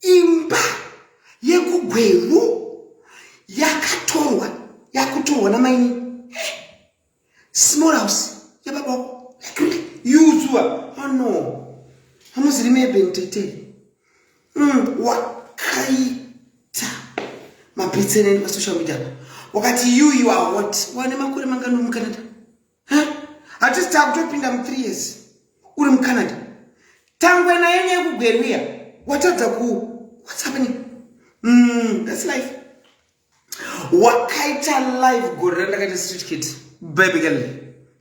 Imba yekugweru yakatorwa yakutorwa namaini eh, small house yababa yuzuwa oh no hamuziri mebentete mm, wakaita mapetseneni pasocial media wakati you you are what wane makore mangani mucanada hatisi takutopinda mu three years uri mucanada tangwe naye nekugweruya watadza ku what's happening mm, that's life wakaita life gore randakaita street kid baby girl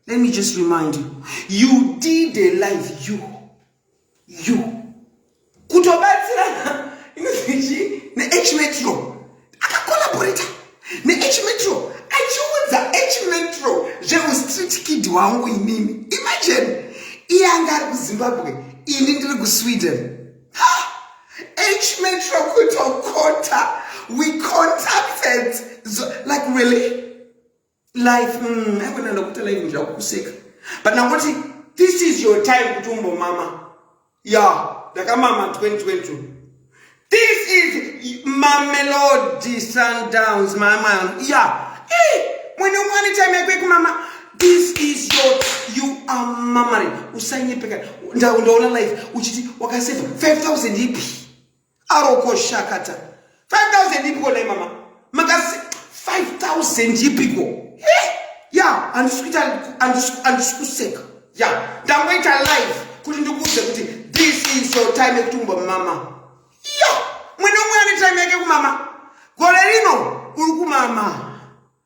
let me just remind you you did a life you you kutobatsira inozichi nehmetro akakolaborata nehmetro achiudza hmetro zveustreet kid wangu inini imagine iye anga ari kuzimbabwe ini ndiri kusweden hmetro kutokota we contacted like really life mm, aigona ndakuita life ndirakukuseka but ndangoti this is your time kuti umbomama ya yeah, ndakamama 2022 this is mamelodi sundowns mama ya yeah. hey, mwene umwani time yako yekumama this is your you are mamaring usanyepeka ndaona life uchiti wakaseva 5000 ipi aroko shakata 5000 ipiko nei mama makasi 5000 ipiko ya handisi kuita handisi kuseka ya ndangoita live kuti ndikuudze kuti this is your time yekuti umba mama ya mwene umwe ane time yake kumama gore rino uri kumama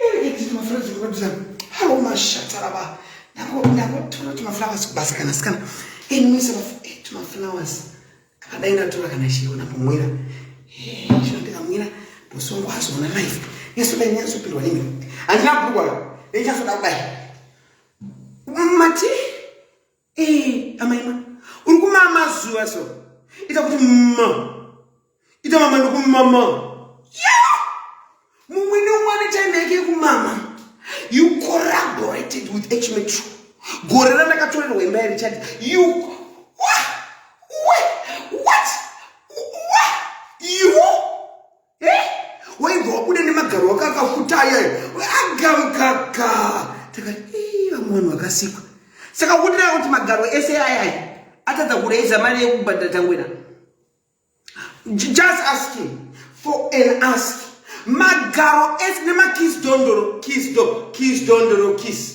Erekedziti maflowers kubatisa. Hello mashata lava. Nako nako tora tuma flowers kubasa kana sikana. Eh nimisa eh, tuma flowers. Akadai ndatora kana shiona pomwira. Eh shona ndikamwira. Bosi wangu azoona life. Yesu dai nyaso pindwa nini. Andina bhukwa. Nyaso dai. Mati. Eh, amaima. Uri kumama zuva so. Ita kuti mma. Ita mama ndokumama. Yeah! Mumwe neumwe ane time yake yekumama. You collaborated with H Metro. Gore randakatorerwa imba yerichadi. You eh waibva wabuda nemagaro wako akafuta ayayo agamukaka takati ii vamwe vanhu vakasikwa saka kudirava kuti magaro ese ayayo atadza kureiza mari yekubhadhira tangwena just asking for an ask magaro ese nemakis dondoro kis do kis dondoro kis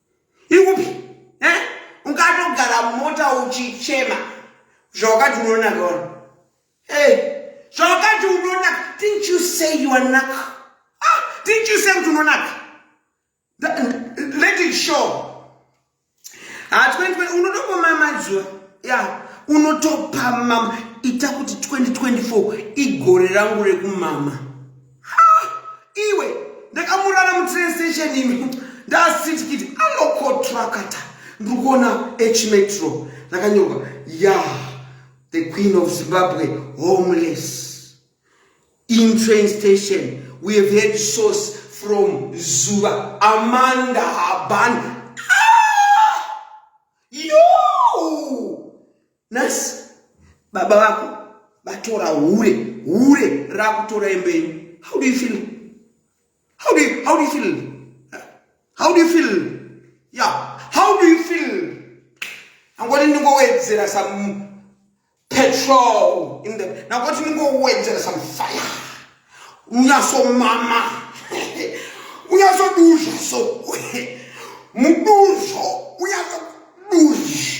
ikupi eh? ungatogara mota uchichema zvawakati unonaka ona hey. zvawakati unonaka didn't you say you are naka ah, didn't you say kuti unonaka let it show hatwentwe ah, unotopama mazuva ya yeah. unotopama ita kuti 2024 igore rangu rekumama iwe ndakamurara mutrain station imi ndasitikiti anokotrakata ndiri kuona hmetro ndakanyorwa ya the queen of zimbabwe homeless in train station we have had source from zuva amanda haban ah! yo nhasi baba vako vatora hure hure rakutora embei how do you feel how do you, how do you feel how do you feel yeah how do you feel angoti ndingowedzera some petrol in the nangoti ndingowedzera some fire unyasomama unyasoduzha so muduzho unyasoduzha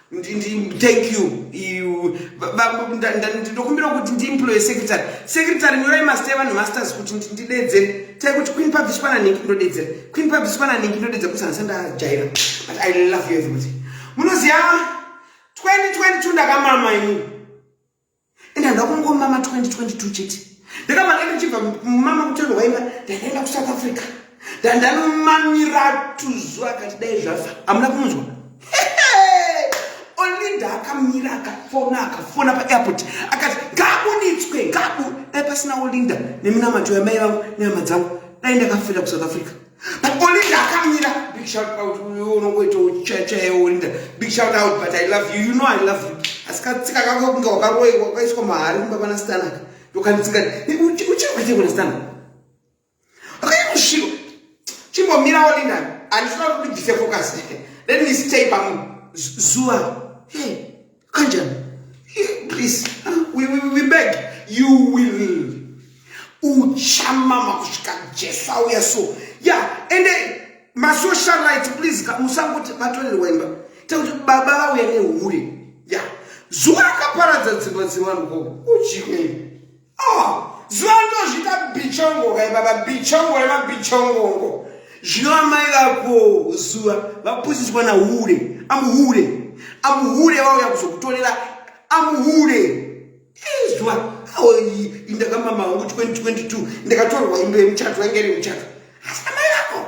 thank you you ndokumbira kuti ndiemploye secretary secretary nyorai master evanhu masters kuti ndidedzere tai kuti queen publish pana nhingi ndodedzera queen publish pana nhingi ndodedzera kuti hanisa ndajaira but i love you everybody munoziva 2022 ndakamama ini and handida kungomama 2022 chete ndakamanga ndichibva mumama kutendo waima ndakaenda kusouth africa ndandanomamira tuzu akati dai zvafa hamuna kunzwa olinda akamira akafona akafona paairport akati ngabuditswe ngabu dai pasina olinda neminamato yamai vangu nehama dzangu dai ndakafira kusouth africa Olinda akamira. Big shout out. Unongoita uchacha Olinda. Big shout out but I love you. You know I love you. Asikatsika kako kunge wakaroiwa wakaiswa mahari kumba pana Stanaka. Yokanitsika. Uchiri kuita kuna Stanaka. Akaita kusviko. Chimbomira Olinda. Andisina kuti bvise focus. Let me stay pamu zuva. Hey. kanjani please we, we, we beg you will uchamama kusvika jesu auya so ya yeah, ende masocialite please musangoti vatorerwa imba tekuti baba vauya nehure ya yeah. zuva akaparadza dzimba dzevanhu ko uchii zuva ndozviita bichongo kai baba bichongo remabichongongo zvino amai vako zuva vapusiswa nahure amuhure amuhure vauya kuzokutorera amuhure zuva aoi indakamama wangu 2022 ndakatorwa imbe yemuchato yange iri muchato asi amai vako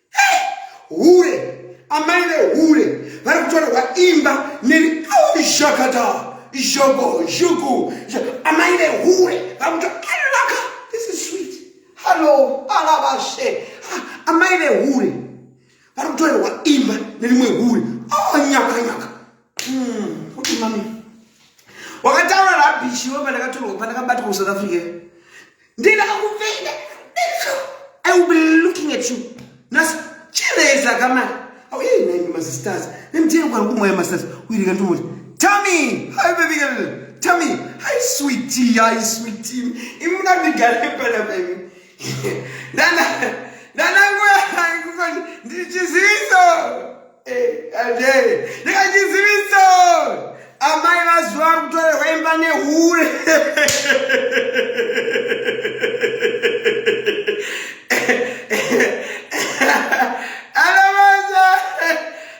hure amai vehure vari kutorerwa imba neri shakata zhogo zhugu amai vehure vari kutoalaka this is sweet hallo alavashe amai vehure vari kutorerwa imba nerimwe hure oh, nyaka nyaka Mm, okay, mami. Wakataura rubbish iwe pandakatorwa pandakabatwa ku South Africa. Ndina kakupenda. I will be looking at you. Nas chireza kama. Oh, hey, name my sisters. Name tell kwa kumwe my sisters. We can do it. Tommy, hi baby girl. Tommy, hi sweetie, hi sweetie. Imuna bigare pala baby. Nana nanangu yangu ndichiziviso eh, ade ndikachiziviso amai vazuva kutorerwa imba nehure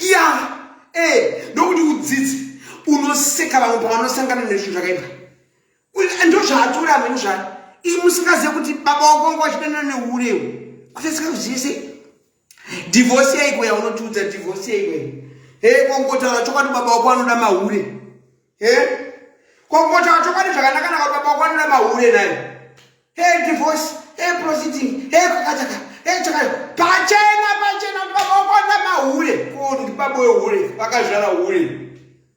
ya eh, ndokuti udzidzi unoseka vamwe pavanosangana nezvinhu zvakaipa ndozvaatora amene zva ii musingazive kuti baba wako wanga wachidanana neurewu kuteseka kuzive sei divhosi yaiko yaunotiudza divhosi yaiko hei kongotaura chokwadi baba wako anoda mahure Eh? Kokota wacho kwani zvakanaka naka baba kwanira mahure naye. Hey divorce, hey proceeding, hey kakataka, hey chakaya. Pachena pachena baba kwanira mahure. Ko ndi baba wehure, vakazvara hure.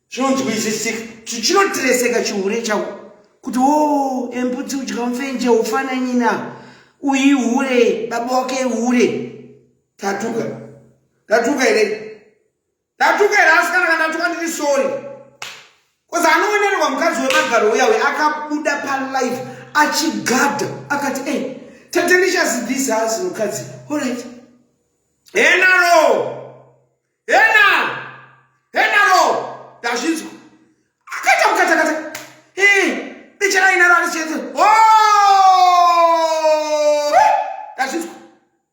Chinonzwisisika. Chinotireseka chihure chako. Kuti wo oh, embudzi udya mfenje ufana nyina. Uyi hure, baba wake hure. Tatuka. Tatuka ere? Ndatuka here asi kana kandatuka ndiri sorry. Cause anoonerwa mukadzi wemagaro uya uya akabuda palive achigadha akati hey, eh, tete ndichasi this house mukadzi alright. Henaro! Hena! Henaro! Ndazvinzwa. Akaita kukatakata. Hey, eh, ndichara inaro arichete. Oh!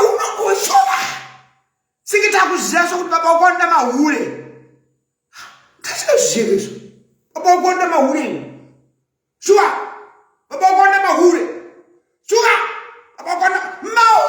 unongoshova senge takuziva sokuti baba wako anoda mahure ndazvinoziva izvo baba wako anoda mahure iwe shuwa baba wako anoda mahure shuwa baba wako anoda mahure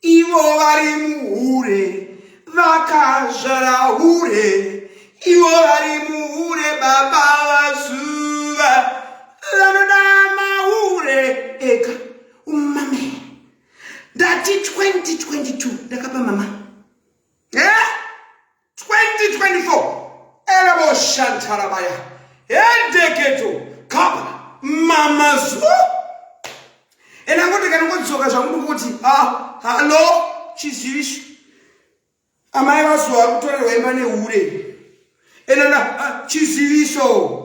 Ivo vari muhure vakazvara hure ivo vari muhure baba vazuva vanoda mahure ega umame ndati 2022 ndakapa mama eh? 2024 elebo shantarabaya hedeketo kapa mamazuo ena kuti kana kudzoka zvakuti kuti ah, halo chizivisho amai vazuva kutorerwa imba nehure enana ah, chiziviso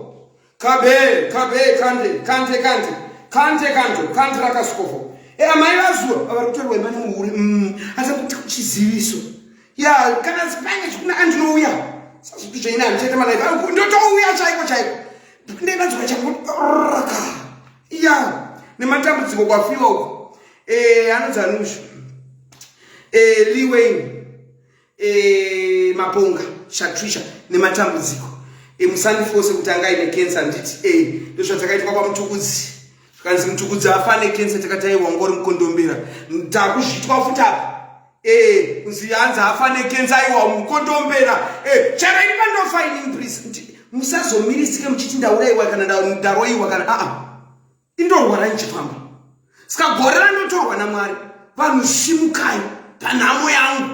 kabe kabe kante kante kante kante kanto kante rakasikovo e eh, amai vazuva avari kutorwa imani muhure mm, asi kuti kuchiziviso ya kana zipange chikuna andinouya sazviti zvaina handichaita malaife ah, ndotouya chaiko chaiko ndenadzoka chakuraka ya nematambudziko kwafiwa uko eh, anonzi anuzvi eh, liwain e, maponga shatrisha nematambudziko emusandifose kuti anga ine kensa nditi e eh, ndozvatakaitwa kwamutukudzi zvikanzi mutukudzi afa nekensa takati aiwa ngori mukondombera takuzvitwa futi apa e eh, kunzi hanzi afa nekensa aiwa mukondombera e eh, charaini pandofa ini mprisi kuti musazomirisike muchiti ndauraiwa kana ndaroiwa kana aa ah, ah. indorwara ndichifamba ska gore ranotorwa namwari vanhu simukai panhamo yangu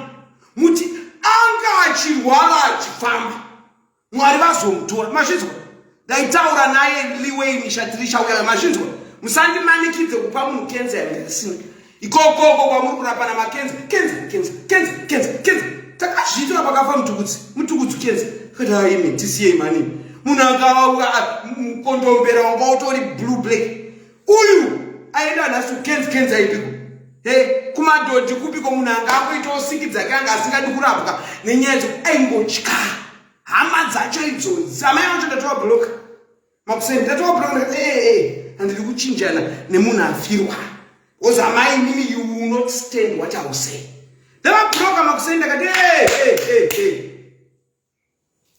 muti anga achirwara achifamba mwari vazomutora mazvinzwa ndaitaura naye liwei mishatirisha uyayo mazvinzwa musandimanikidze kupa munhu kenza yange risina ikokoko kwamuri kurapana makenzi kenzi kenzi kenzi kenzi kenzi takazviitira pakafa mutukudzi mutukudzi kenzi kadaimi tisiyei mani munhu akawa mukondombera wanga utori blue black uyu aenda nhasi kenzi kenzi aipiko he kumadhodhi kupiko munhu anga akuitawo siki dzake anga asingadi kurapwa nenyaya dzoku aingotya hama dzacho idzo zamai vacho ndatovablocka makuseni ndatoabrana ee eh, eh, eh, handidi kuchinjana nemunhu afirwa bcause amai mimi you will not stand what iw say ndavabroka makuseni ndakati ee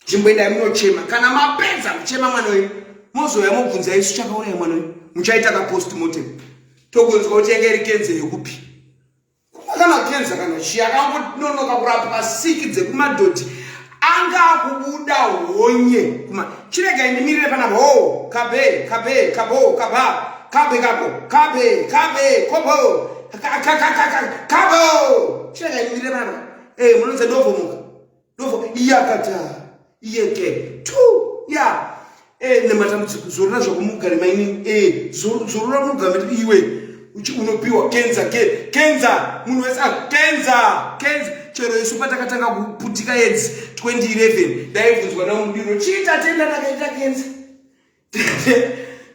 nzvimbo endai munochema kana mapedza kuchema mwana wenyu mozouya mobvunza isu chakauraya mwana wenyu muchaita kapost motem tokunzwa kuti yanga iri kenze yekupi kana kenza kana chii akangononoka kurapwa siki dzekumadhodhi anga akubuda honye kuma chirega indimirire panapa ho oh, kabe kabe kabo kaba kabe kako kabe kabe kobo kabo chirega indimirire panapa e eh, munonze ndovomuka ndobva iye akati ah, iye ke tu ya eh, nematambudziko zorora zvakumugare maini eh, zorora mugambe iwe unopiwa kenza ke kenza munhu wese ah, kenza kenza chero isu patakatanga kuputika edzi 2011 ndaibvunzwa namudiro chii tatenda takaita kenza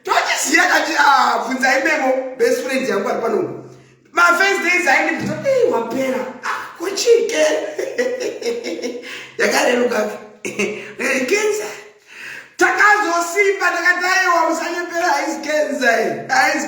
tochisiya kati ah, bvunza imemo best friend yangu ari pano mafirst days aindibvunza ei wapera ah, kuchike yakareruka kenza takazosimba takataiwa musanyepera aizi kenza aizi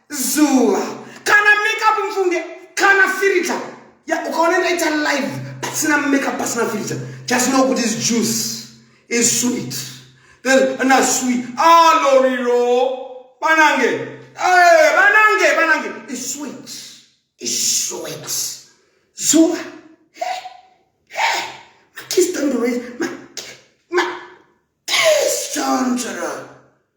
zuva kana makeup mfunge kana firita ya ukaona ndaita live pasina makeup pasina firita just know kuti is juice is sweet then ana sweet aloriro ah, banange eh banange banange is sweet is sweet zuva hey hey my kiss don't raise my my kiss don't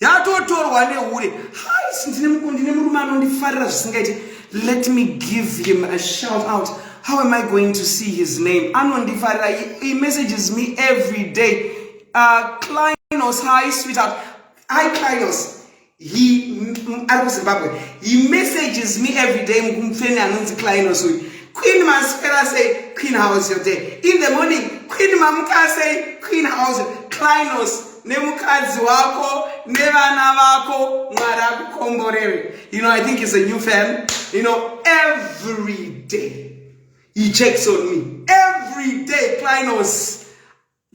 yatotorwa nehure hais ndine murume anondifarira zvisingaiti let me give him a shout out how am i going to see his name anondifarira he messages me every day uh, clinos hi sweetheart hi clinos he ari kuzimbabwe he messages me every day mukumufeni anonzi clinos uyu queen maswera say queen house your day in the morning queen mamukasei queen house clinos nemukadzi wako nevana vako mwari akukomborere you know i think is a new fam you know every day he checks on me every day clinos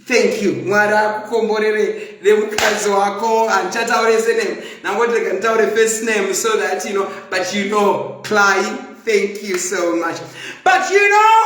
thank you mwari akukomborere nemukadzi wako handichataure sename nangoti rega nditaure first name so that you know but you know cly thank you so much but you know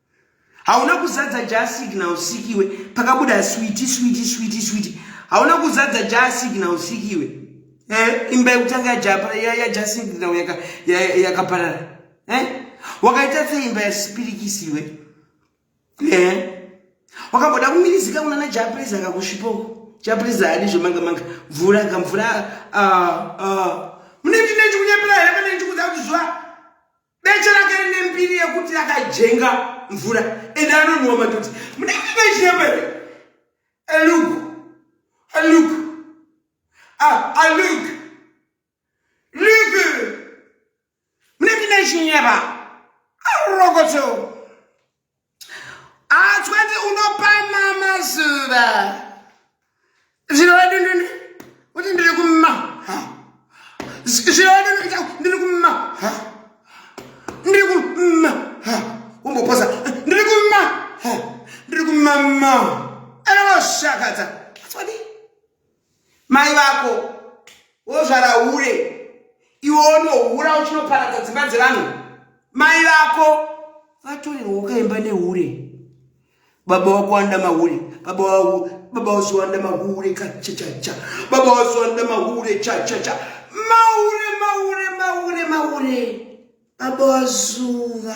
hauna kuzadza ja signal sikiwe pakabuda switi switi switi switi hauna kuzadza ja signal sikiwe eh, imba yekutanga yaja signal yakaparara yaka eh? wakaita sei imba yasipirikisiwe eh? wakamboda kumirizika kunana japreza akakusvipoko chaprisa hadi zvemanga manga mvura kamvura ah, ah. mune ndine chikunyepera here pane ndikuda kuti zva beche rake rine mbiri yekuti akajenga mvura ende anonhuwa matoti munenge mechiremba here aluk aluk ah, aluk luk munenge mechinyeba arokoto Atswati ah, unopa mama zuva. Zvirodu ndini kuti ndiri kuma. Zvirodu ndiri kuma. Ndiri kuma. Umboposa. Ndiri kuma. Ndiri kumama. Anoshakadza. Atswati. Mai vako wozvara hure iwe unohura uchinoparadza dzimba dzevanhu. Mai vako vatorerwa ukaimba nehure. Baba wako wanda mahure. Baba wako baba wako wanda mahure cha cha cha. Baba wako wanda mahure cha cha cha. Mahure mahure mahure mahure. Baba wazuva.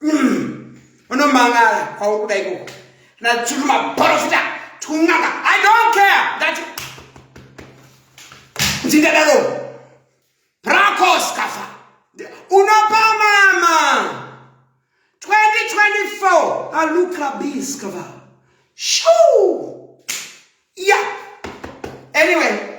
Mm. Unomangala kwauri kuda ikoko. Na tiri maporofita tunanga. I don't care. That Ndingadaro. Prakos kafa. Unopa mama. 2024 aluka biskava. Shoo. Yeah. Anyway,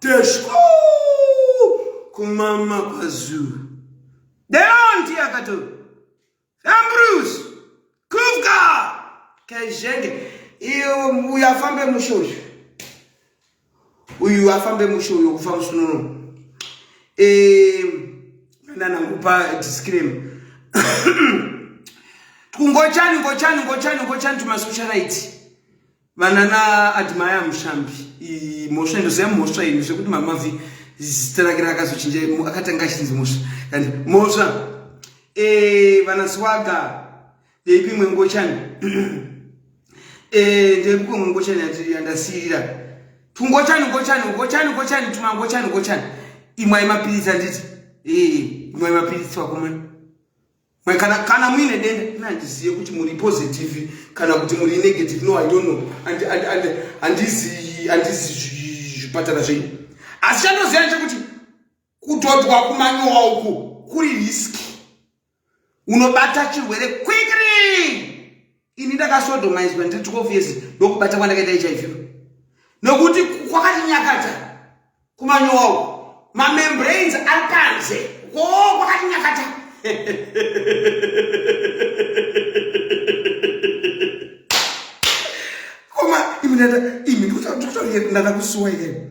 teshko kumama kwazulu deonti akato ambrus kuvka kezhenge iyo uyu afambe mushe uyu uyu afambe mushe uyu kufa musunono nanangupa disclaim kungochani ngochani ngochani ngochani tumasocialite Vanana Admire Mushambi mhosva ndoziva mhosva ini zvekuti mamavi zita rake rakazochinja akatanga achinzi mhosva kandi mhosva eh, vana swaga ndeipi imwe ngochani eh, ndeipi imwe ngochani yandasiyira tungochani ngochani ngochani ngochani tuma ngochani ngochani imwai mapiritsi anditi eh, imwai mapiritsi wakomana kana kana muine denda ina handizive kuti muri positive kana kuti muri negative no i don't know and and and handizi handizi zvipatara zvenyu asi chandoziva chekuti kudhodwa kumanyowa uku kuri risk unobata chirwere quickly ini ndakasodomizwa ndiri 12 years ndokubata kwandakaita hiv nokuti kwakatinyakata kumanyowa uko mamembrains ari panze ko kwakatinyakata koma imi ndatakusuwa here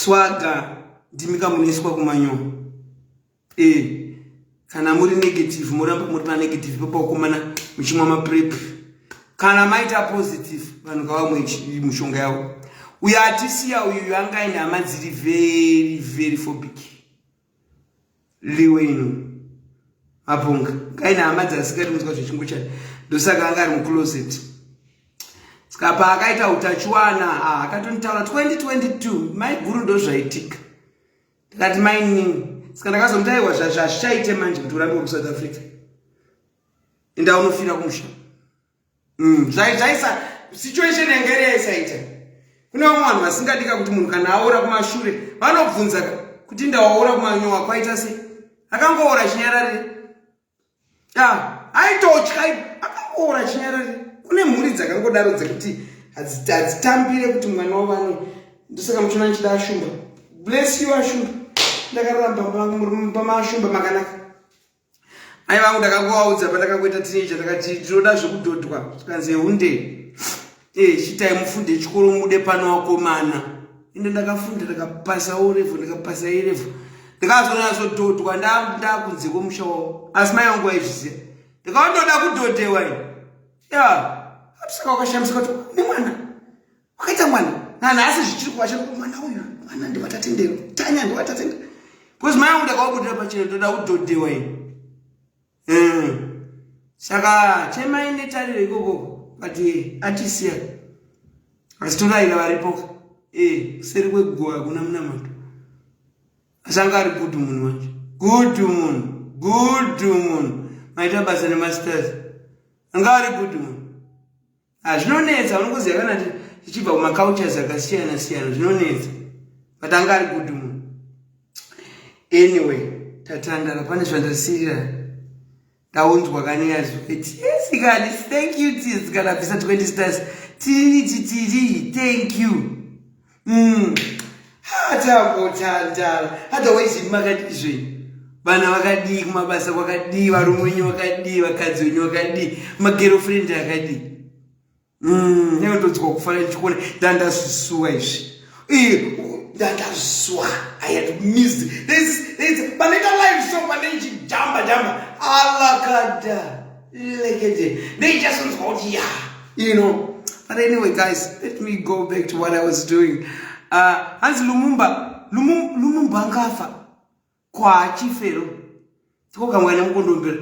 Swaga ndimi kamunoiswa kumanyo e eh, kana muri negative moramba muri panegative papakomana muchimwa maprep kana maita positive vanhu ngavamwe mushonga yavo uyo atisiya uyu angaine hama dziri very very fobic liwino mapunga kaina hama dzasikati munzwa zvechingo chake ndosaka anga ari mucloset ska paakaita utachiwana ah, akatonitaura 2022 mai guru ndozvaitika ndikati mainini ska ndakazomutaiwa zvazvichaite manje kuti urambiwa kusouth africa indaunofira kumusha mm, zvaisa situation yanga iri yaisaita kune vamwe vanhu vasingadika kuti munhu kana aora kumashure vanobvunza kuti ndawaora kumanyowa kwaita sei akangoora chinyararire aitotya akangoora chinyararire kune mhuri dzakangodaro dzekuti hadzitambire kuti mwana wavano ndosaka muchiona ndichida ashumba bless you ashumba ndakaramba murume pamaashumba makanaka Mai vangu ndakangovaudza pandakangoita teenager ndakati tinoda zvekudhodhwa zvikanzi hunde eh chitai mufunde chikoro mude pano wakomana ende ndakafunda ndakapasa o level ndakapasa e level ndakazonazodhodhwa ndakunze kwemusha wavo asi mai vangu vaizviziva ndikaondoda kudhodhewa ya atisaka wakashamisika kuti nemwana kwakaita mwana nanhasi zvichiri kuva chero mwana uyu mwana ndivatatendero tanya ndivatatendero bcause mai angu ndakawabudira pachero ndoda kudhodhewa i eh. saka chemai netariro ikoko but eh, atisiya asi toraira varipoka eh, kuseri kweguwa hakuna munamato asi anga ari good munhu wanje good munhu good munhu maita basa nemasters anga ari good munhu Ah, zvinonetsa unokuziva kana tichibva kumacultures akasiyana siyana zvinonetsa but anga ari good mu anyway tatandara pane zvandasirira ndaunzwa kaneyazvo eti yes kani thank you tis kana bvisa 20 stars tiri titiri thank you mm. hatagotandara otherwise ini makadizvei vana vakadii kumabasa kwakadii varume wenyu vakadii vakadzi wenyu vakadii magerofrendi akadii mm, neotodzwa kufana ndichikuona ndandazvisuwa izvi ndandazvisuwa i had missed this panoita live so pane ichijamba jamba alakada Lekete. They just want to go, yeah, you know. But anyway, guys, let me go back to what I was doing. Uh, hanzi Lumumba, Lumum, Lumumba ngafa kwa chifero. Tikoka mwana mukondombera.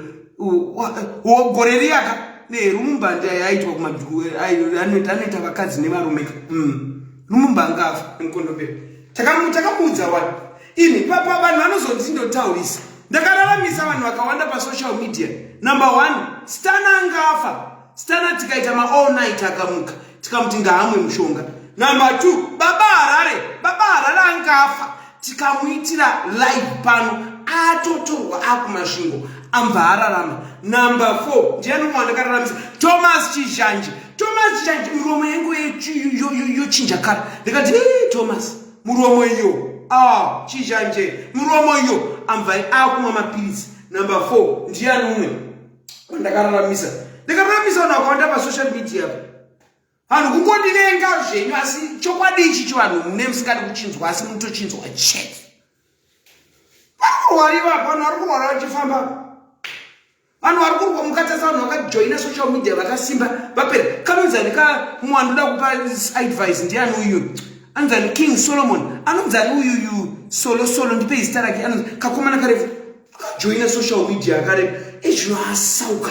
Wogore riyaka ne Lumumba ndiye yaitwa kuma anoita anoita vakadzi nevarume. Mm. Lumumba ngafa mukondombera. Takamu takamuudza wani? ini papa vanhu vanozonzi ndotaurisa ndakararamisa vanhu vakawanda pasocial media number one stana anga afa stana tikaita maall night akamuka tikamuti ngaamwe mushonga number two baba harare baba harare anga afa tikamuitira live pano atotorwa akumasvingo ambva ararama number four ndiani umwe wandakararamisa thomas chizhanji thomas chizhanji miromo yangu yochinja kara ndikati thomas muromo iyo ah chizhanje muromo iyo amvai akumwa mapiritsi number four ndiyani umwe kwandakararamisa ndakararamisa vanhu vakawanda pasocial media vanhu kungondivenga zvenyu asi chokwadi ichi chivanhu mune musingadi kuchinzwa asi munotochinzwa chete vakurwari vapano vari kurwara vachifamba vanhu vari kurwa mukatasa vanhu vakajoina social media vakasimba vapera kanonzani ka mumwe anoda kupa advice ndiani uyu anzani king solomon anonzani uyuyu solo solo ndipe izita rake anonzi kakomana karefu akajoina social media akarefu ezvino asauka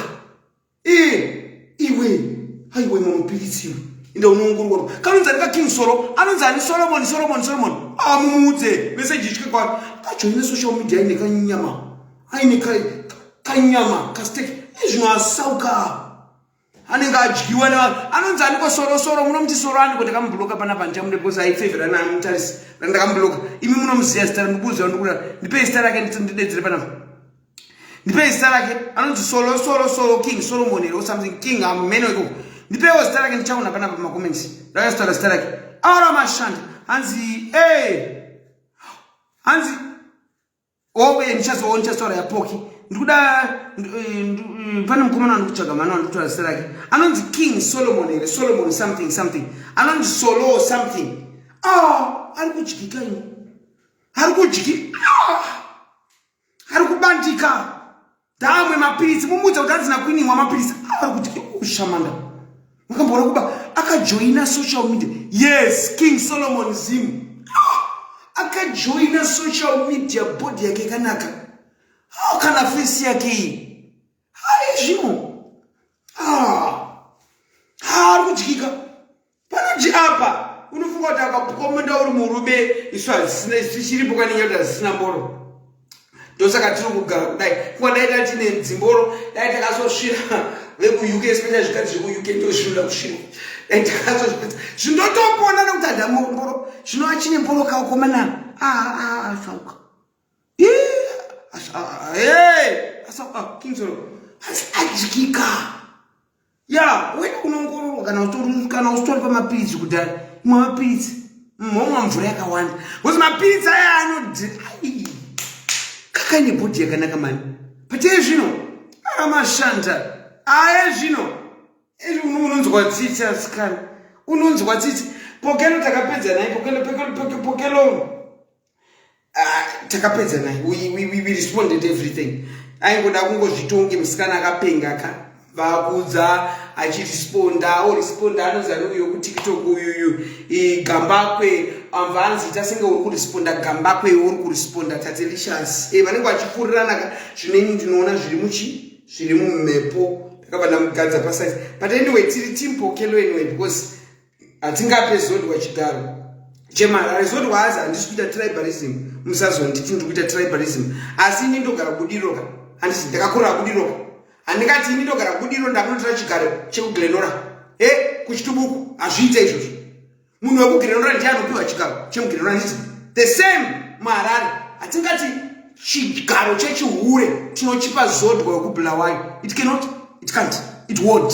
e iwe haiwe mamupiritsiwe inde unoongororwa kanonzani ka king solo anonzani solomon solomon solomon amumuudze ah, vese jitye kwaro kajoina social media ine kanyama aine kanyama kasteki nezvino asauka anenge adyiwa nevanhu anonzi aniko sorosoro munomuti soro aniko ndakamubuloka pana pandichamude because aifevhera namutarisi ndakamubuloka imi munomuziva zita ndikuuziva ndikuda ndipei zita rake ndidedzere panapa ndipei zita rake anonzi solo solo solo king solomon here or something king amumene wekoko ndipeiwo zita rake ndichaona panapa pamacomments ndakazitaura zita rake aura mashanda hanzi e hanzi owe oh, ndichazowo ndichazotaura yapoki ndikuda pane mukomana wandikutsvaga mwana wandikutora zita rake anonzi king solomon here solomon something something anonzi solo something a ah, ari kudyika ini ari kudyika ah, ari kubandika Damwe mapiritsi mumudza kuti adzina kuinimwa mapiritsi ari kuti ushamanda makamboona kuba akajoina social media yes king solomon zim akajoina social media body yake ikanaka hao kana fesi yake iyi haizvino haari kudyika panoti apa unofunga kuti akapuka munda uri murume isu hazisina isu tichiripo kanenge kuti hazisina mboro ndosaka tiri kugara kudai kuva dai dai tine dzimboro dai takazosvira vekuuk especially zvikati zvekuuk ndozvinoda kusvirwa dai takazozvipedza zvindotopona nekuti hadamomboro zvinova chine mboro kaukomana aafauka ah, ah, ah, adyikika ya wena unoongororwa kana utori kana usitori pamapiritsi kudhara imwe mapiritsi momwa mvura yakawanda bcause mapiritsi aya anodi kakaine bhodhi yakanaka mani but iye zvino aramashanda aye zvino unonzwa tsitsi asikana unonzwa tsitsi pokelo takapedza naye pokelo pokelo pokelo Ah, takapedza naye we responded everything aingoda kungozvitonge musikana akapenga ka vakuudza achiresponda oresponda anonzi ane uyo kutiktok uyuyu gambakwe amva anzi ita senge uri kuresponda gambakwe uri kuresponda tatelicious e vanenge vachifurirana ka zvineni ndinoona zviri muchi zviri mumhepo takabva ndamugadza pasaizi but anyway tiri team pokelo anyway because hatingape zodwa chigaro chemarare zodwa hazi handisi kuita tribalism musazonditi ndiri kuita tribalism asi ini ndogara kudiroka handisi ndakakura kudiroka handingati ini ndogara kudiro ndakunotira chigaro chekuglenora e kuchitubuku hazviita izvozvo munhu wekuglenora ndiye anopiwa chigaro chemuglenora ndizi the same maharare hatingati chigaro chechihure tinochipa zodwa wekubulawayo it cannot it can't it won't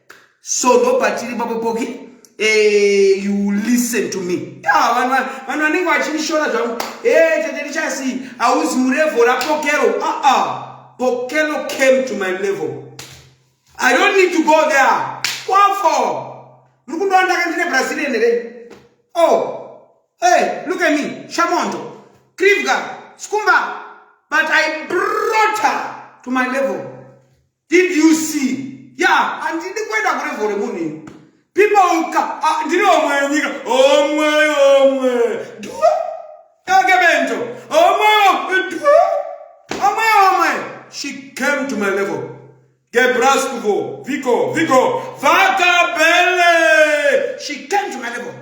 so ndo patiri papo poki eh, you listen to me vanhu vanenge vachinishora zvangu eh, tete richasi hauzi murevo rapokero ah, ah. pokero came to my level i don't need to go there wafo muri kundoona ndaka ndine brazilian here o oh. hey, look at me shamondo krivga skumba but i brought her to my level Did you see? Yeah, handidi kuenda kurevo remunhu people ah, ndiri omwe yenyika omwe omwe dua yake bento omwe dua omwe omwe she came to my level gebraskuvo viko viko vakabele she came to my level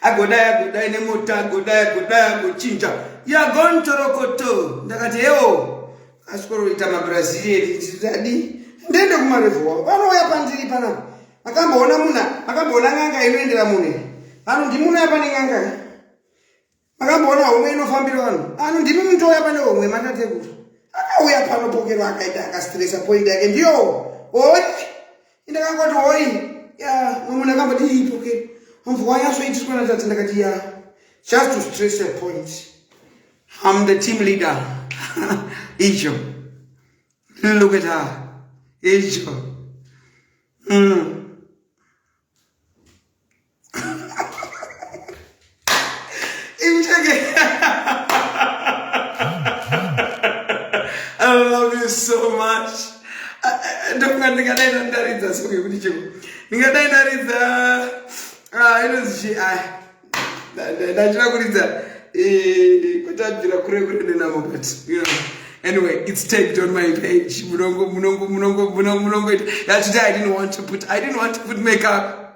agodai agodai nemota agodai agodai agochinja yagontorokoto ndakati hewo asvikoroita mabrazilian ndidadi ndiende kumarevo wavo vanouya pandiri panapa makamboona muna makamboona n'anga inoendera mune vanhu ndimunouya pane n'anga makamboona homwe inofambira vanhu ano ndimi mutouya pane homwe matatekuru akauya pano pokero akaita akastresa poindi yake ndiyo oi indakangoti oi ya mamwe ndakamboti ii pokero mumvu wanyasoitiswa natadzi ndakati ya just to stress a point am the team leader icho look at her icho mm. ndofunga ndingadai ndandaridza song yekuti cheko ndingadai ndaridza ah, inonzi ah, ndachida kuridza eh, kutabvira kure kure nenamo but you know anyway it's tagged on my page munongo munongo munongo munongo munongo yeah today i didn't want to put i didn't want to put makeup